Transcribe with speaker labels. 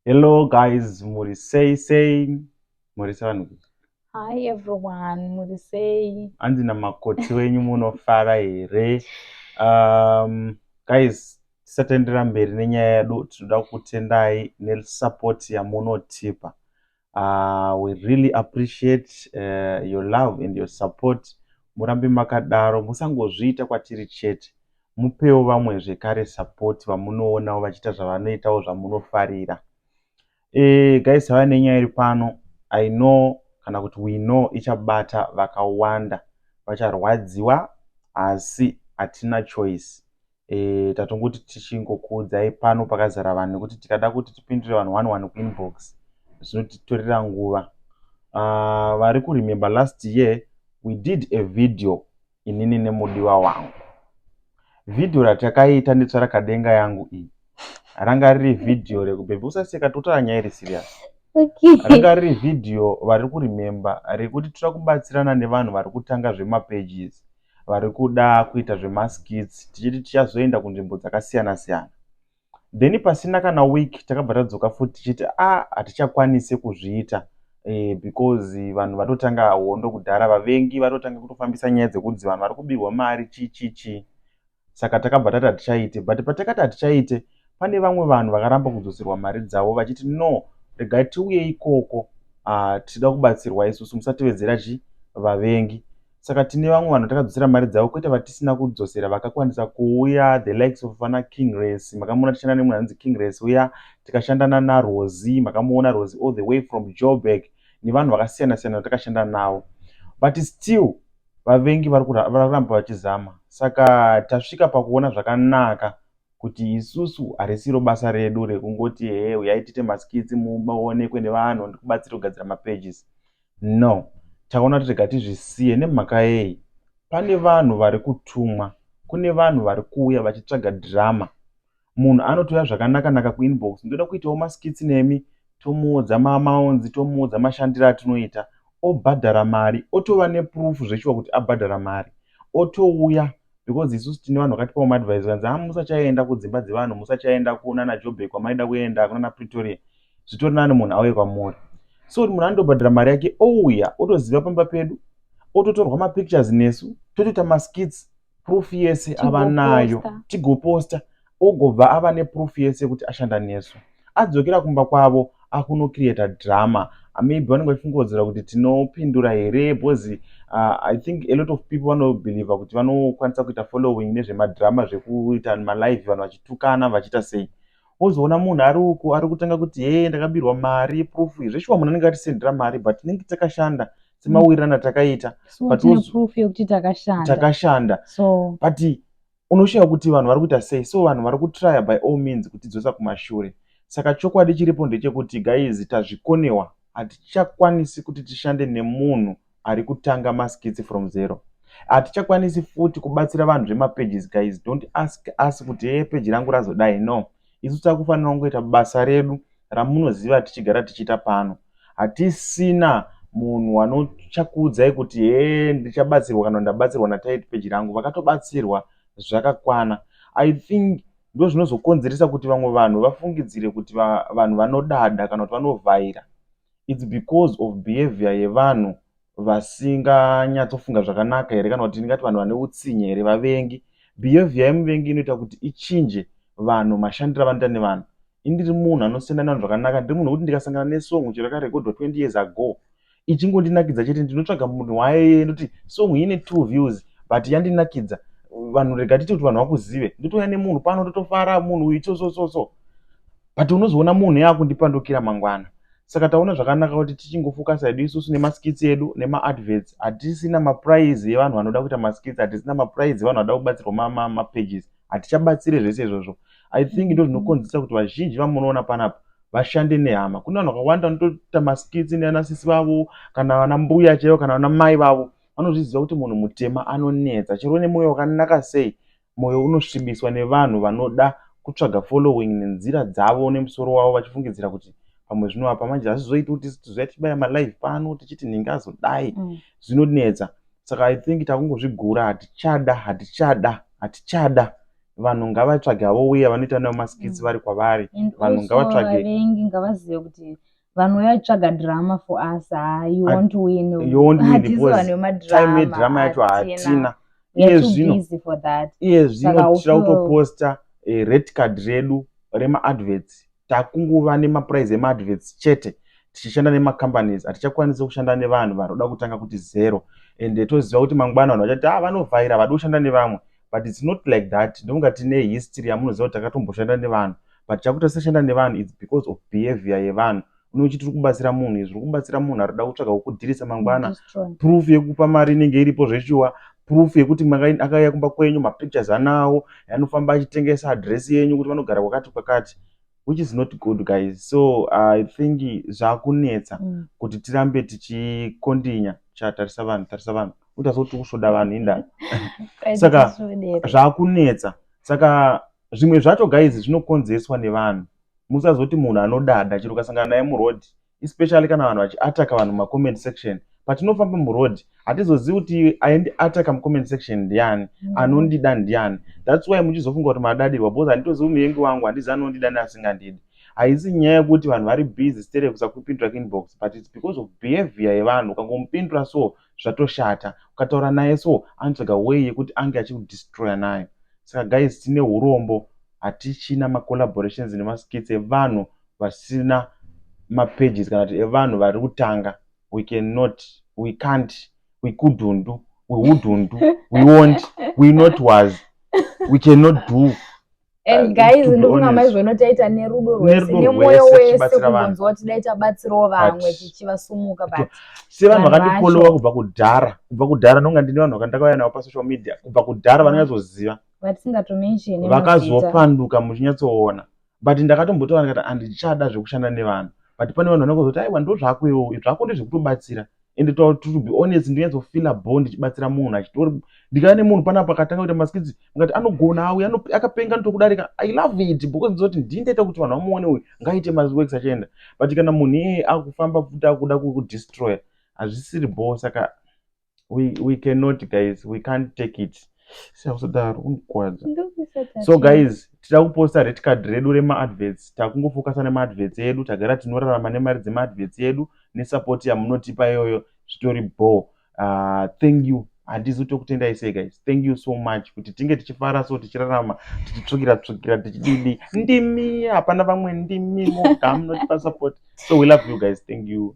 Speaker 1: Hello guys, muri sei sei? Muri sei vanhu? Hi
Speaker 2: everyone, muri sei? Hanzi na makoti
Speaker 1: wenyu munofara here? Um, guys, tisatendera mberi nenyaya yedu, tinoda kutendai ne support yamunotipa. uh, we really appreciate uh, your love and your support murambe makadaro musangozviita kwatiri chete mupewo vamwe zvekare support vamunoonawo vachiita zvavanoitawo zvamunofarira e, guys hava nenyaya iri pano i know kana kuti we know ichabata vakawanda vacharwadziwa asi hatina choice e, tatongoti tichingokuudzai pano pakazara vanhu nekuti tikada kuti tipindure vanhu one one kuinbox zvinotitorera nguva uh, vari kuremember last year we did a video inini nemudiwa wangu vhidhiyo ratakaita nditsva rakadenga yangu iyi ranga riri vhidhiyo rekubhebhi usaseka totaura nyaya iri serious ranga riri vhidhiyo vari kurememba rekuti toda kubatsirana nevanhu vari kutanga zvemapages vari kuda kuita zvemaskits tichiti tichazoenda kunzvimbo dzakasiyana siyana then pasina kana week takabva tadzoka futi tichiti a ah, hatichakwanise kuzviita eh, because vanhu vatotanga hondo kudhara vavengi vatotanga kutofambisa nyaya dzekunzi vanhu vari kubirwa mari chichichi saka takabva tati hatichaite but patakati hatichaite pane vamwe vanhu vakaramba kudzoserwa mari dzavo vachiti no regai tiuye ikoko ah, tichida kubatsirwa isusu musatevedzera chi vavengi saka tine vamwe vanhu takadzosera mari dzavo kwete vatisina kudzosera vakakwanisa kuuya the likes of vana king race makamuona tichishanda nemunhu anonzi king race uya tikashandana narosi makamuona rosi all the way from joburg nevanhu vakasiyana siyana vatakashanda navo but still Vavengi vari kuramba vachizama saka tasvika pakuona zvakanaka kuti isusu harisiro basa redu rekungoti hee huyai tiite maskits muonekwe nevanhu ndikubatsire kugadzira mapages no taona kuti rega tizvisiye nemhaka yei pane vanhu vari kutumwa kune vanhu vari kuuya vachitsvaga drama Munhu anotouya zvakanaka naka ku inbox ndoda kuitawo ma skits nemi tomuudza ma amounts tomuudza mashandiro atinoita obhadhara mari otova ne proof zveshuwa kuti abhadhara mari otouya because isusu tine vanhu vakatipawo ma advice zvikanzi haa musachaenda kudzimba dzevanhu musachaenda kunana Joburg kwamaida kuenda kunana Pretoria zvitori nani munhu auye kwamuri so kuti munhu anotobhadhara mari yake ouya otoziva pamba pedu ototorwa ma pictures nesu totoita ma skits proof yese ava nayo tigoposta ogobva ava neproof yese yekuti ashanda nesu adzokera kumba kwavo akunocreata drama ah, maybe vanenge vachifungodzera kuti tinopindura here because uh, i think a lot of people vanobhilivha kuti vanokwanisa kuita following nezvemadrama zvekuita malive vanhu vachitukana vachiita sei wozoona munhu ari uku ari kutanga kuti hee ndakabirwa mari proof zveshuwa munhu anenge atisendera mari but tinenge takashanda semawirirano atakaita takashanda but unoshaya kuti vanhu vari kuita sei so vanhu vari kutrya by all means kutidzosa kumashure saka chokwadi chiripo ndechekuti gaizi tazvikonewa hatichakwanisi kuti tishande nemunhu ari kutanga maskitsi from zero hatichakwanisi futi kubatsira vanhu zvemapages guys don't ask us kuti hee peji rangu razodai no Isu takufanira kungoita basa redu ramunoziva tichigara tichiita pano. Hatisina munhu wanochakuudzai kuti hee ndichabatsirwa kana ndabatsirwa naTight Page rangu. Vakatobatsirwa zvakakwana. I think ndozvinozokonzeresa kuti vamwe vanhu vafungidzire kuti vanhu vanodada kana kuti vanovhaira. it's because of behavior yevanhu vasinganyatsofunga zvakanaka here kana kuti ndingati vanhu vane utsinye here vavengi behavior yemuvengi inoita kuti ichinje vanhu mashandiro avanoita nevanhu indiri munhu anosiyana nevanhu zvakanaka ndiri munhu wekuti ndikasangana nesong chero yakarekodhwa 20 years ago ichingondinakidza chete ndinotsvaga munhu waye ndoti song ine two views but yandinakidza vanhu rega titi kuti vanhu vakuzive ndotouya nemunhu pano totofara munhu uyu so so so so But unozoona munhu yakundipandukira mangwana. Saka taona zvakanaka kuti tichingofocusa hedu isusu nemaskits edu nemaadverts. Hatisina maprize evanhu vanoda kuita maskits, hatisina maprize evanhu vanoda kubatsirwa mapages. Hatichabatsire zvese izvozvo. I think ndo zvinokonzeresa kuti vazhinji vamunoona panapa vashande nehama. Kune vanhu vakawanda vanotoita maskits neanasisi vavo kana vana mbuya chaivo kana vana mai vavo. Vanozviziva kuti munhu mutema anonetsa. Chero une moyo wakanaka sei Moyo unosvibiswa nevanhu vanoda kutsvaga following nenzira dzavo nemusoro wavo vachifungidzira kuti pamwe zvinovapa manje hazvizoiti kuti tizouya tichibaya malive pano tichiti nhingi azodai mm. zvinonetsa saka i think takungozvigura hatichada hatichada hatichada vanhu ngavatsvage havo uye vanoita navo maskits mm. vari kwavari vanhu ngavatsvage vavengi ngavazive
Speaker 2: kuti vanouya tsvaga drama for us ha you won't win you won't win because
Speaker 1: time yedrama yacho hatina iye zvino iye zvino tichira kutoposta eh, red card redu remaadverts takunguva nemaprize emaadverts chete tichishanda nemacompanies hatichakwanisi kushanda nevanhu vanoda kutanga kuti zero and toziva kuti mangwana vanhu vachati ha ah, vanovhaira vadi kushanda nevamwe but it's not like that ndonga tine history yamunoziva kuti takatomboshanda nevanhu but chakuti tisashanda nevanhu its because of behavior yevanhu une uchiti uri kubatsira munhu izvi uri kubatsira munhu ari kuda kutsvaga kukudhirisa mangwana proof yekupa mari inenge iripo zveshuwa proof yekuti akauya kumba kwenyu mapictures anawo anofamba achitengesa adress yenyu kuti vanogara kwakati kwakati which is not good guys so i think zvakunetsa mm. kuti tirambe tichikondinya chatarisa vanhu tarisa vanhu utaziva kuti kusvoda vanhu indava saka zvakunetsa saka zvimwe zvacho guys zvinokonzereswa nevanhu musazoti munhu anodada chero ukasangana naye muroad especially kana vanhu vachiataka vanhu mumacoment section patinofamba muroad hatizozivi kuti aindiataka mucoment section ndiani mm. anondida ndiani thats why muchizofunga kuti madadirwa because handitozivi muvengi wangu handizi anondida neasingandidi haisi nyaya yekuti vanhu vari busy stere kusakupindura kinbox but its because of behavior yevanhu ukangomupindura so zvatoshata ukataura naye so anotsvaga way yekuti ange achikudestroya nayo saka guys tine urombo hatichina macollaborations nemaskits evanhu vasina mapages kana kuti evanhu vari kutanga we cannot we can't we couldn't we wouldn't we won't we not was we cannot do and uh, guys
Speaker 2: ndikuna maizvono taita nerudo rwese nemoyo wese kubvunzwa kuti dai tabatsirawo vamwe tichivasumuka but sevanhu vakandifolowa
Speaker 1: kubva kudhara kubva kudhara ndonga ndine vanhu vakandakauya navo pasocial media kubva kudhara vanonyatsoziva vatisingatomenshini
Speaker 2: vakazopanduka
Speaker 1: muchinyatsoona but ndakatombotaura ndikati handichada zvekushanda nevanhu but pane vanhu vanokuzoti aiwa ndozvako iwo zvako ndezvekutobatsira and to, to be honest ndinyatsofeela bo ndichibatsira munhu achitori ndikava nemunhu panapa akatanga kuita maskitsi ngati anogona auya akapenga nitokudarika i love it because ndizoti ndii ndaita kuti vanhu vamuone uyu ngaite maworks achienda but kana munhu iyeye akufamba futi akuda kukudestroya hazvisiri bo saka we, we cannot guys we can't take it siyakuzodaro unokwadza so guys tida kuposta red card redu remaadverts takungofocusa nemaadverts edu tagara tinorarama nemari dzemaadverts edu nesupport yamunotipa iyoyo zvitori bo uh, ah, thank you handizi tokutendai sei guys thank you so much kuti tinge tichifara so tichirarama tichitsvukira tsvukira tichididi ndimi hapana vamwe ndimi moga munotipa support so we love you guys thank you